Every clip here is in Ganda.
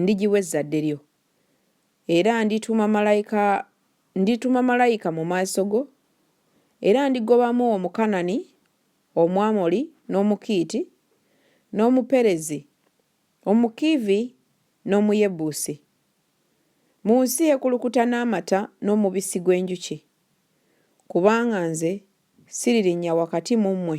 ndigiwa ezzadde lyo. Era ndituma malayika, ndituma malayika mu maaso go, era ndigobamu Omukanani, Omwamoli, n'Omukiiti, n'Omuperezi, Omukiivi, n'Omuyebusi, mu nsi ekulukuta n'amata n'omubisi gw'enjuki, kubanga nze siririnnya wakati mu mmwe.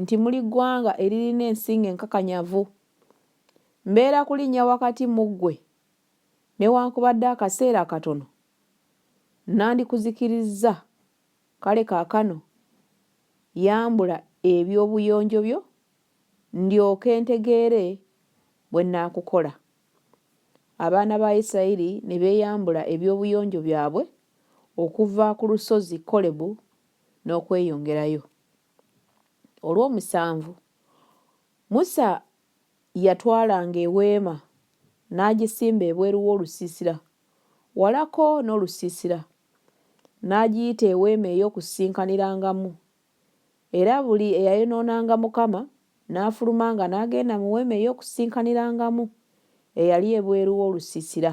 nti muli ggwanga eririna ensingo enkakanyavu, mbeera kulinnya wakati mu ggwe newankubadde akaseera katono, nnandikuzikirizza, kale kaakano yambula eby'obuyonjo byo ndyoke ntegeere bwe nnaakukola. Abaana ba Isirayiri ne beeyambula eby'obuyonjo byabwe okuva ku lusozi Kolebu n'okweyongerayo. olw'omusanvu, Musa yatwalanga eweema n'agisimba ebweru w'olusiisira, walako n'olusiisira, n'agiyita eweema ey'okusisinkanirangamu. Era buli eyayonoonanga Mukama n'afulumanga n'agenda mu weema ey'okusisinkanirangamu eyali ebweru w'olusiisira.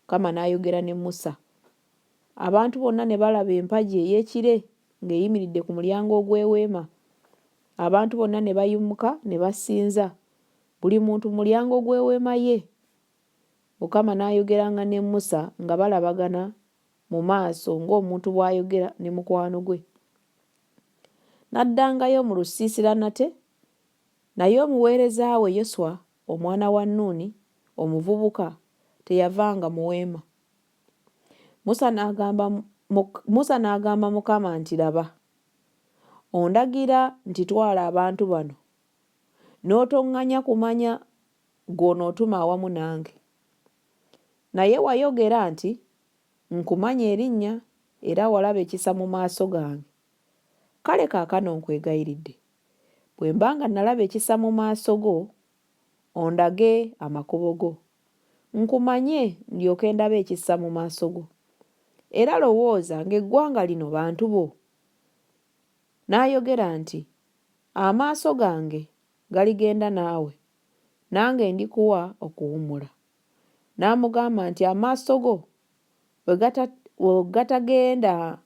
Mukama n'ayogera ne Musa. Abantu bonna ne balaba empagi ey'ekire ng'eyimiridde ku mulyango ogw'eweema. Abantu bonna ne bayimuka ne basinza, buli muntu mu mulyango gw'eweema ye. Mukama n'ayogeranga ne Musa nga balabagana mu maaso ng'omuntu bw'ayogera ne mukwano gwe. N'addangayo mu lusiisira nate, naye omuweereza we Yoswa Omwana wa Nuuni omuvubuka teyavanga mu weema. Musa n'agamba, Musa n'agamba Mukama nti, Laba, ondagira nti twala abantu bano, n'otoŋŋanya kumanya gw'onootuma awamu nange. Naye wayogera nti, Nkumanyi erinnya era walaba ekisa mu maaso gange. Kale kaakano nkwegayiridde, bwe mba nga nalaba ekisa mu maaso go, ondage amakubo go, nkumanye, ndyoke ndabe ekisa mu maaso go. Era lowooza ng'eggwanga lino bantu bo. N'ayogera nti, Amaaso gange galigenda naawe, nange ndikuwa okuwummula. N'amugamba nti, Amaaso go bwe gatagenda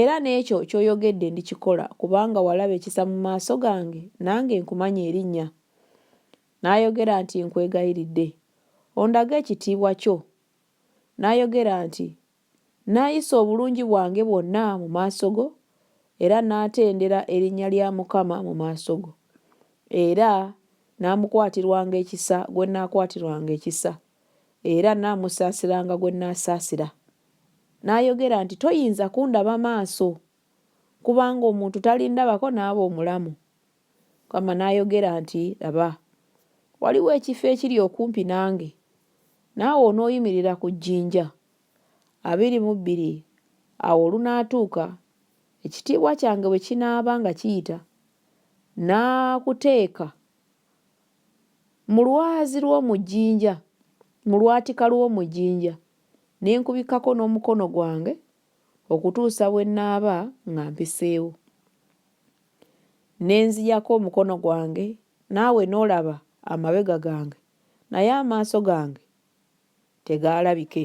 Era n'ekyo ky'oyogedde ndikikola, kubanga walaba ekisa mu maaso gange, nange nkumanyi erinnya. N'ayogera nti, Nkwegayiridde, ondage ekitiibwa kyo. N'ayogera nti, Nnaayisa obulungi bwange bwonna mu maaso go, era nnaatendera erinnya lya Mukama mu maaso go. Era nnaamukwatirwanga ekisa gwe nnaakwatirwanga ekisa, era nnaamusaasiranga gwe nnaasaasira. N'ayogera nti, Toyinza kundaba maaso, kubanga omuntu talindabako n'aba omulamu. Mukama n'ayogera nti, Laba, waliwo ekifo ekiri okumpi nange, naawe onooyimirira ku jjinja. Abiri mu bbiri awo olunaatuuka, ekitiibwa kyange bwe kinaaba nga kiyita, nnaakuteeka mu lwazi lw'omu jjinja, mu lwatika lw'omu jjinja. ne nkubikkako n'omukono gwange okutuusa bwe nnaaba nga mpiseewo. Ne nziyako omukono gwange, naawe n'olaba amabega gange, naye amaaso gange tegaalabike.